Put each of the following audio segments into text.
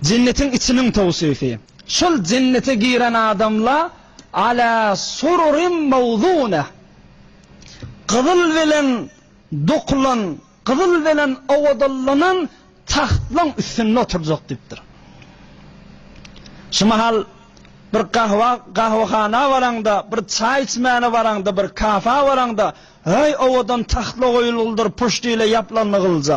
Jennetiň içiniň towsify. Şol jennete giren adamla Alâ sururim mawdûneh. Gyzyl bilen dokulan, gyzyl bilen owadanlanan tahtlaň üstünde oturjak diýipdir. Şu mahal bir gahwa, gahwahana baraňda, bir çaý içmäne baraňda, bir kafa baraňda, Heý, owadan tahtla goýulgylydyr, puşt ile ýaplanygylja.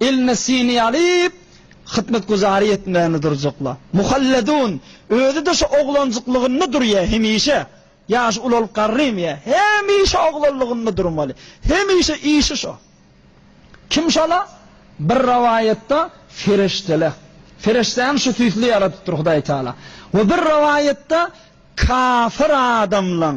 Elinde siňňi alyp, hyzmatguzary etmäni durjakla. Muhalledun, özi-de şu oglanjyklygynda durýa, hemişe. Ýaşy ulalyp garrym ýa, hemişe oglanlygynda durmaly. Hemişe işi şo. Kim şala? Bir rowaýatda Fereştele. Fereştäni şu süýsli ýaradypdyr Hudaýtagala. We bir rowaýatda kafir adamlaň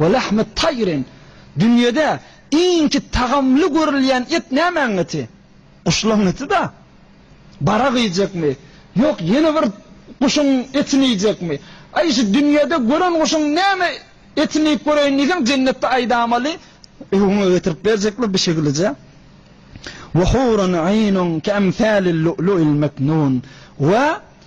Wa lahmat taýrin, Dünýede iňki tagamly görülýän et nämäň eti? Guşlaň eti-da. Barag iýjekmi? Ýok, ýene bir guşuň etini iýjekmi? Aý, şu dünýede gören guşuň näme etini iýip göreýin diýseň, jennetde aýdamaly, öňe getirip berjekler bir şeýlije. Wa hurun aýnun keemsalil lu'lu'il meknun, Wa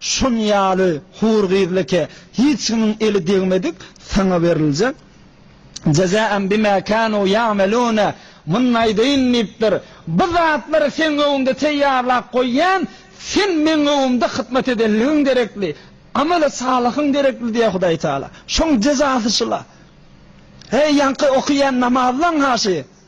Şun ýaly hur gyzlyke hiç kimiň eli degmedik sana beriljek. Jezaen bima kanu yamelune Muny aýdaýyn diýipdir. Bu zatlary seň öňüňde teýýarlap goýýan, sen meň öňümde hyzmat edenligiň derekli, ameli salyhyň derekli diýýär Hudaý Taala. Şoň jezasy şula. Heý ýaňky okaýan namazlaň haşy.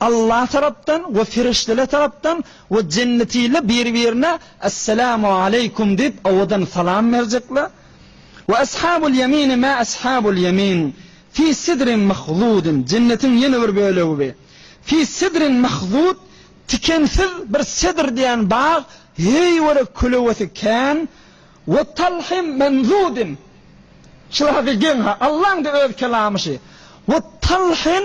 Allah tarapdan we perişdeler tarapdan we jennetiler bir-birine Esselamu aleýkum diýip owadan salam berjekler. Ve eshabul ýemini ma eshabul ýemin, fi sidrin mahdudin, jennetiň ýene bir bölegi bi, fi sidrin mahdud, tikensiz bir sedr diýen bag, heý görek kölewesi kän, ve talhim mendudin, şular haky geň ha, Allaň-da öz kelamy şi, ve talhin,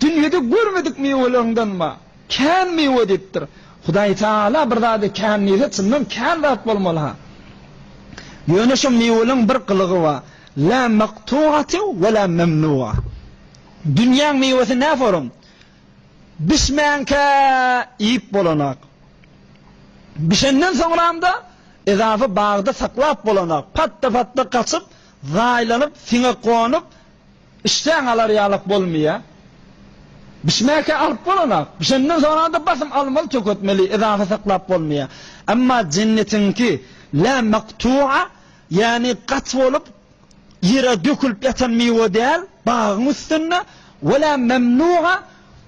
Dünýede görmedik miweleriňdenba, kän miwe diýipdir. Hudaý Tagala bir zady kän diýse, çyndan kän zat bolmaly-ha. Ýöne şo miweleriň bir gylygy bar, Lâ maktû'atü ve lâ memnû'a. Dünýäň miwesi näforum, bişmänkä iýip bolanak. Bişenden soňram-da, ezaby bagda saklap bolanak, patda-patda gaçyp, zaýlanyp, siňe gonup, Işdäň alar ýalak bolmaýa. Bişmäkä alyp bolanak. Bişenden soňada basym almaly töketmeli yzahy saklap bolmaýa. Emma jennetiňki la maktua ýany gaty bolup ýere dökülip ýatan miwe däl bagyň üstünde wala mamnua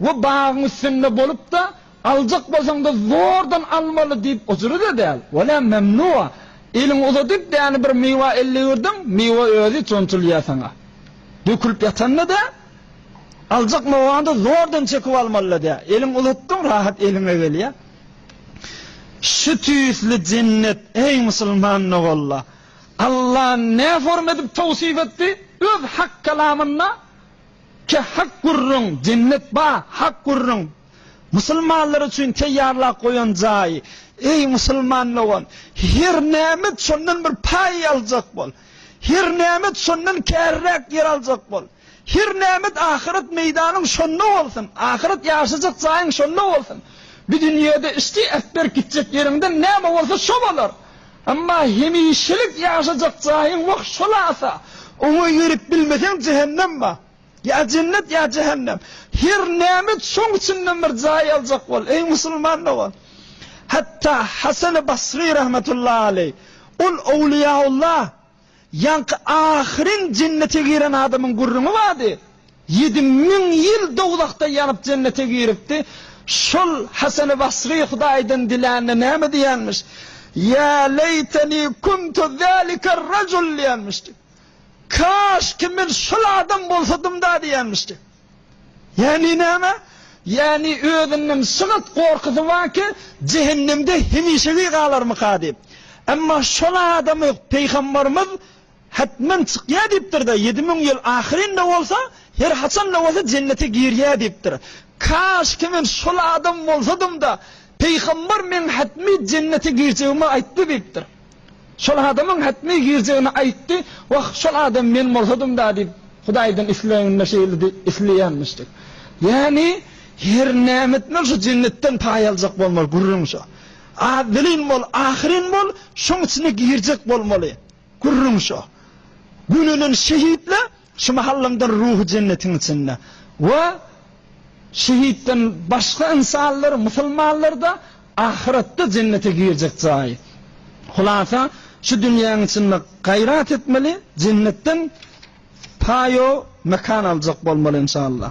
we bagyň üstünde bolupda Aljak bolsaň-da zordan almaly diýip ujyry-da däl, welem memnua eliňi uzadyp däni bir miwe elle ürdüň, miwe özi çonçulýa saňa. Dökülip ýatan-da dä, aljak miwaňda zordan çekip almaly-da dä, eliňi uzatdyň rahat eliňe gelýä. Şu tüýsli jennet, eý musulman nogolla! Alla nä form edip towsyp etdi? Öz hak kalamynda, Ke hak gürrüň, jennet ba, hak gürrüň, Musulmanlar üçin teýýarlap goýan jaýy. Eý, musulman dogan, her nämet şondan bir paý aljak bol. Her nämet şondan käriräk ýer aljak bol. Her nämet ahyret meýdanyň şonda bolsun, ahyret ýaşajak jaýyň şonda bolsun. Bu dünýede üsti äpberk gitjek ýeriňden näme bolsa şo bolar. Emma hemişelik ýaşajak jaýyň wah şol asa. Oňa ýörüp bilmeseň jehennem bar. Ýa jennet, ýa jähennem. Her näme et, şoň içinden bir jaý aljak bol, eý, musulman dogan! Hatda Hasany Basry rahmetullahi aleý, ol owliýaulla, ýaňky ahyryn jennete giren adamyň gürrüňi bardy, ýedi müň ýyl dowzahda ýanyp jennete giripdi. Şol Hasany Basry Hudaýdan dilände näme diýenmiş? Ýa leýteni kuntu zaliker rajul diýenmişdi. Kaş ki men şol adam bolsadymda diýýänmişdi. Ýagny näme? Ýagny özünden şygyrt gorkusy bar ki jehennemde hemişegi galarmyka diýip. Emma şol adam Peýgamberimiz Hetmen çykýar diýipdirde ýedi müň ýyl ahyrynda bolsa her haçanda bolsa jennete girýär diýipdir. Kaş ki men şol adam bolsadymda Peýgamber meň hetmi jennete girjegimi aýtdy diýipdir. Şol adamyň hätme girjegini aýtdy, Wah, şol adam men bolsadym-da diýip, Hudaýdan isleginde şeýledi, isleýänmişdi. Ýagny, her näme etmeli, şu jennetden paý aljak bolmaly, gürrüň şo. Awwelin bol, ahyrin bol, şoň içine girjek bolmaly, gürrüň şo. Gönüden şehitli. Şu mahalymdan ruhy jennetiň içinde we şehitden başga ynsanlar, musulmanlar-da ahyretde jennete girjek jaýy. Hulasa, şu dünýäň içinde gaýrat etmeli, jennetden paýo mekan aljak bolmaly, inşallah.